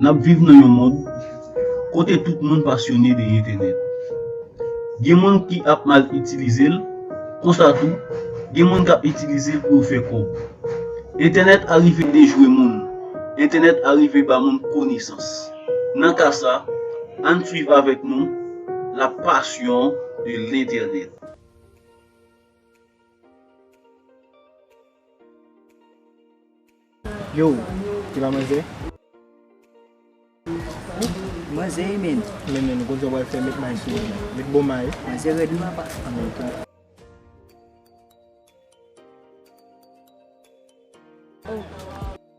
N ap viv nan yon mond kote tout moun pasyone de entènèt. Gen moun ki ap mal itilize l, konsa tou, gen moun k ap itilize l pou yo fè kòb. Entènèt a rive dejwe moun, entènèt a rive ba moun konesans. Nan ka sa, ann swiv avèk nou La Passion de l'Eternel. Yo, ti la manzè? Ooh, manzè e menn. Men menn, gwo djòb wal fè met may sou li. Met bon may. Manzè rèd wi apa. Anmweyy tou. Ooh.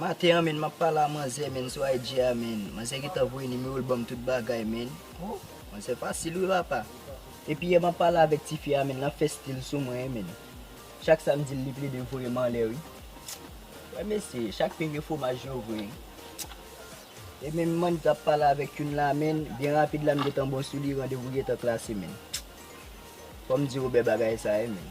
Maten an menn map pale a manzè menn sou IG a menn manzè gentan voye nimero l banm tout bagay menn oh manzè fasil wi la pa. Epi yè map pale avèk tifi a menn lap fè stil sou mwen menn chak sam dil li plede voyem anlè wi wè mesye chak pen gen fwomaj yo vre e menm man tap pale avèk youn la menn byen rapid la m gentan bon sou li randevou gentan klase menn fòm di Robert bagay sa ye menn.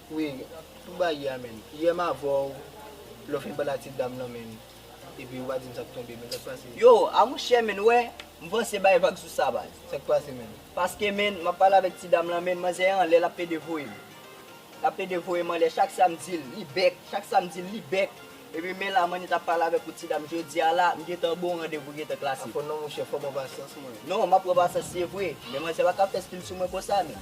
Wi ou bay yè a menn. Yè m avèw lè w fin pale ak ti dam lan menn epi ou pa dim sak tonbe menn sak pase. Yo a monchè menn wè m panse bay vag sou sa baz. Sak pase menn. Paske menn map pale avèk ti dam lan menn manzè an lè lap pede voyem lap pede voyem anlè chak sam dil li bèk chak sam dil li bèk epi men la manit ap pale avèk ou ti dam jodia la m gentan bon randevou gentan klase. Afò non monchè fò pran pasyans mwen. Non map pran pasyans se vre men manzè paka fè stil sou mwen konsa menn.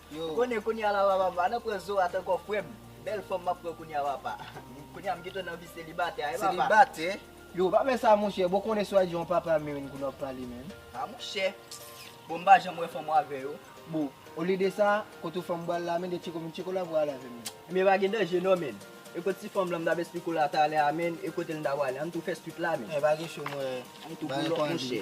Ou konnen kounya la papa pa nan pran zorat ankò frèm bèl fanm map pran kounya papa kounya m gentan nan vi selibatè a wi papa. Selibatè? Yow pa fè sa monchè bon konnen swa di yon papa merenn kounya wap pale menm. A monchè bon m pa janm wè fanm wa vè yo. Bon olye de sa kot ou fanm bal la menn de tcheko menn tcheko la pou ale avèm menn. Ebyen pa gen danje non menn. E kot ti fanm lan m tap esplike w la talè a menn e kotel m ta pwale ann tou fè swit la menn. Ebyen pa gen cho m wè. Ann tou boulòp monchè.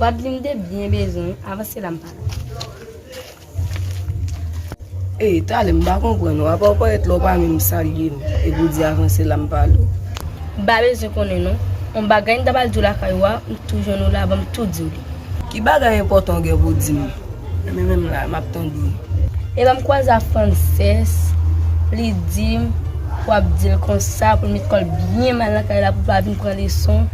Wadline te byen bezwen avanse la m pa la. Ey tale m pa konprann ou apaw parèt lè w pa menm salye m epi w di avanse la m pa la w. M pa bezwen konnen non. On bagay m ta pral di w lakay ou a m tou jwenn ou la banm tou di w li. Ki bagay enpòtan w gen pou w di m. Ebyen menm la map tande. E lèm kwaze a Frances li dim pou ap dil konsa poul met kòl byen mal nan kay la poul pa vin pran leson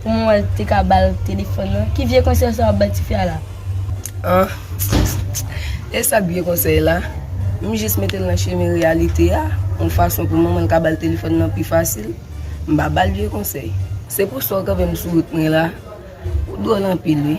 pou mwen wèl te ka bal telefòn nan ki vye konsèy sa wap bay ti fi a la Ahh esak vye konsèy la m jis metel nan chemen reyalite a yon fason pou manmanl ka bal telefòn nan pi fasil m pa bal vye konsèy se pou sa w kanpem sou wout mwen la ou dwòl anpil wi.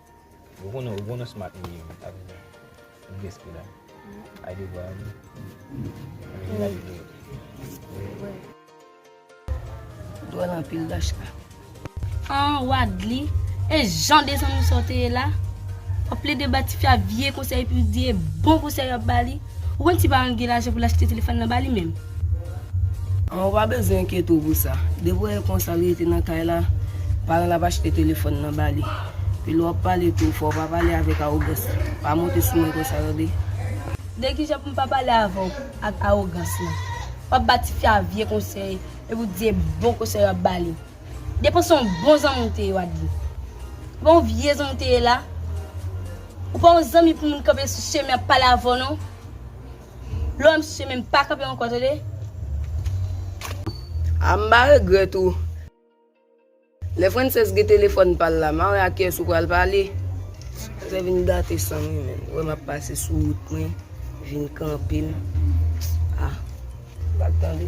Ou konnen ou konnen smart li ye wi avèk li. Li gen espri la. Ay devwa a wi. Ann vin gade li yo. Dwòl anpil Dashka. An Wadly, e jan desann ou sa w te ye la? Wap plede ba tifi a vye konsèy epi w di e bon konsèy wap ba li? Ou konn ti paran l gen lajan pou l achte telefòn lan ba li menm? An ou pa bezwen enkyete w pou sa. Depi w wè konsa l rete nan kay la, paran l ap achte telefòn lan ba li. Pi lè w ap pale tou, fò w pa pale avèk awogans. Pa monte sou mwen konsa tande. De ki jan pou m pa pale avè w ak awogans lan? W ap ba tifi a vye konsèy epi w di se bon konsèy w ap ba li. Depo se yon bon zanmi ou te ye Wadly. Epa yon vye zanmi ou te ye la. Ou pa yon zanmi pou moun kanpe sou chemen ap pale avè w non. Lè w wè m sou chemen m pa kanpe ankò tande. Ah m pa regrèt ou. Lè Frances gen telefòn pa l la ma wè a kiyès ou pral pale. Frances vin gate san mwen menn. Wè m ap pase sou wout mwen vin kanpe m. Ah. Bak tande.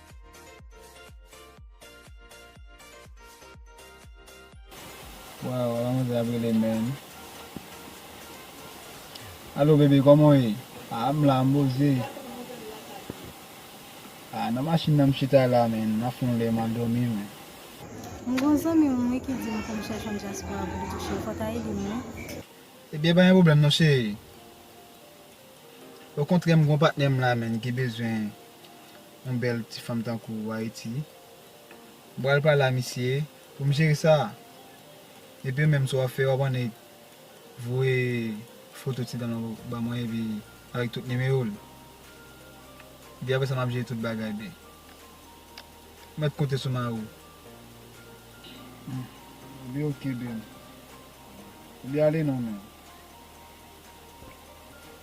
Waw ala manzè ap rele menn. Alo bebe koman ou ye? A m la m boze. A nan machin nan m chita la men m ap fè yon lè m andomi men. M gon zanmi m wi ki di m pou m chèche yon dyaspora pou li touche l fò w ta ede m wi. Ebyen pa gen pwoblèm non cheri. Okontrè m gon patnè m la menn ki bezwen yon bèl ti fanm tankou ou ayiti m pral pale a misye pou m jere sa epi ou menm sa w ap fè w ap annik voye foto ti dan l ou ban mwen epi avèk tout nimewo l epi apresa m ap jere tout bagay byen ou mèt konte sou mari w epi ok byen epi ale non menn.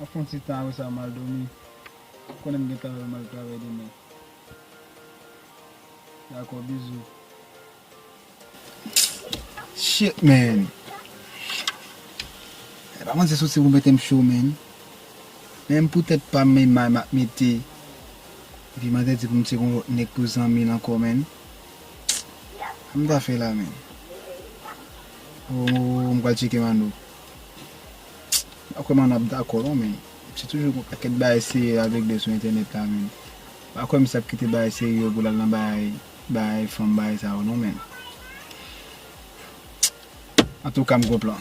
Map fon ti tan apresa m al domi m konnen m gen travay mwen al travay demen dako bizou. Shit man E pa manzè soti pou metem cho man Menm pou tèt pam men may map mete Epi manzè di poum tcheke yon lòt nèg pou zanmil ankò man Sa m ta fè la man Ooh m pral tcheke Manno. M pa kwè m ap dakò non men se toujou gon pakèt bagay serye ap regle sou entènèt la menn. M pa kwè misye ap kite bagay serye yo pou l al nan bagay bagay fanm bagay sa yo non menn. Antouka m gon plan.